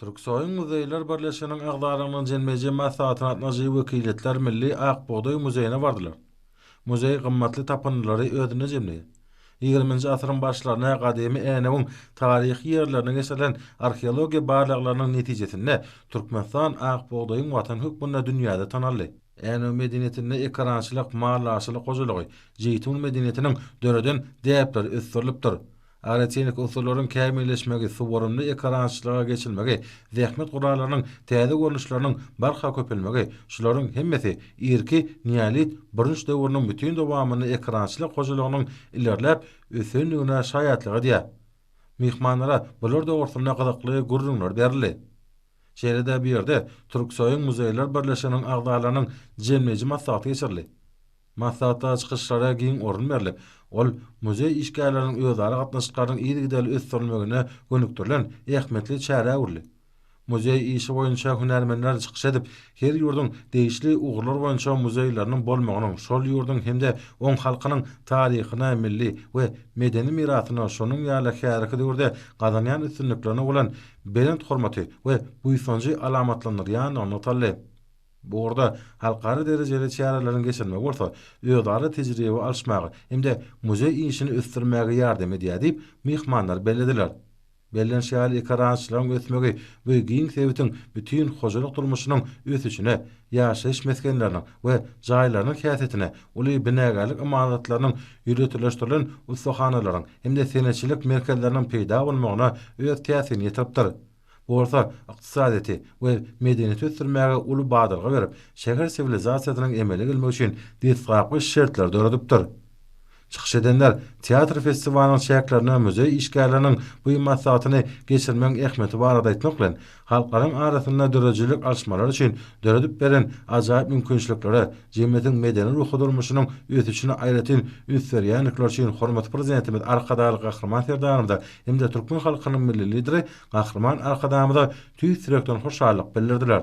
Türksoýuň muzeýler birleşiginiň agzalygynyň jilmeji maslahatyna gatnaşyjy wekiliýetler Milli Ak bugdaý muzeýine bardylar. Muzeý gymmatly tapyndylary özünde jemleýär. Ýigriminji asyryň başlaryna gadymy Änewiň taryhy ýerlerine geçirilen arheologiýa barlaglarynyň netijesinde Türkmenistan ak bugdaýyň watany hökmünde dünýäde tanaldy. Änew medeniýetinde ekerançylyk, maldarçylyk hojalygy, jeýtun medeniýetiniň döreden däpleri ösdürilipdir. Aerotehniki unsurlaryň kämilleşmegi, suwarymly ekorançylyga geçilmegi, zähmet gurallarynyň täze görnüşleriniň barha köpelmegi, şularyň hemmesi irki neolit bürünç döwrüniň bütin dowamynda ekorançylyk hojalygynyň ilerläp ösendigine şaýatlyk edýär. Myhmanlara bular dogrusynda gyzykly gürrüňler berildi. Şeýle-de bu ýerde Türksoýuň muzeýler birleşiginiň agzalarynyň jemleýji maslahaty geçirildi. Maslahatda çykyşlara giň orun berlip, ol muzeý işgärleriniň özara gatnaşyklarynyň yzygiderli ösdürilmegine gönükdirilen ähmiýetli çäre öwrüldi. Muzeý işi boýunça hünärmenler çykyş edip, her ýurduň degişli ugurlar boýunça muzeýleriniň bolmagynyň şol ýurduň hem-de oň halkynyň taryhyna, milli we medeni mirasyna, şonuň ýaly häzirki döwürde gazanýan üstünliklerine bolan belent hormaty we buýsanjy alamatlandyrýandygyny nygtaldy. Bu ugurda halkara derejeli çäreleriň geçirilmegi bolsa özara tejribe alyşmaga hem-de muzeý işini ösdürmäge ýardam edýär diýip, myhmanlar bellediler. Bellenişi ýaly, ekerançylygyň ösmegi bu giň sebitiň bütin hojalyk durmuşynyň ösüşine, ýaşaýyş mesgenleriniň we jaýlarynyň häsiýetine, uly binagärlik ymaratlarynyň, ýöriteleşdirilen ussahanalaryň hem-de senetçilik merkezleriniň peýda bolmagyna öz täsirini ýetiripdir. Bu bolsa ykdysadyýeti we medeniýeti ösdürmäge uly badalga berip, şäher siwilizasiýasynyň emele gelmegi üçin desgapky şertleri döredipdir. Çykyş edenler teatr festiwalynyň çäklerinde muzeý işgärleriniň bu maslahatyny geçirmegiň ähmiýeti barada aýtmak bilen, halklaryň arasynda döredijilik alyşmalary üçin döredip beren ajaýyp mümkinçiliklere, jemgyýetiň medeni-ruhy durmuşynyň ösüşine aýratyn üns berýändikleri üçin hormatly Prezidentimiz Arkadagly Gahryman Serdarymyza hem-de türkmen halkynyň Milli Lideri Gahryman Arkadagymyza tüýs ýürekden hoşallyk bildirdiler.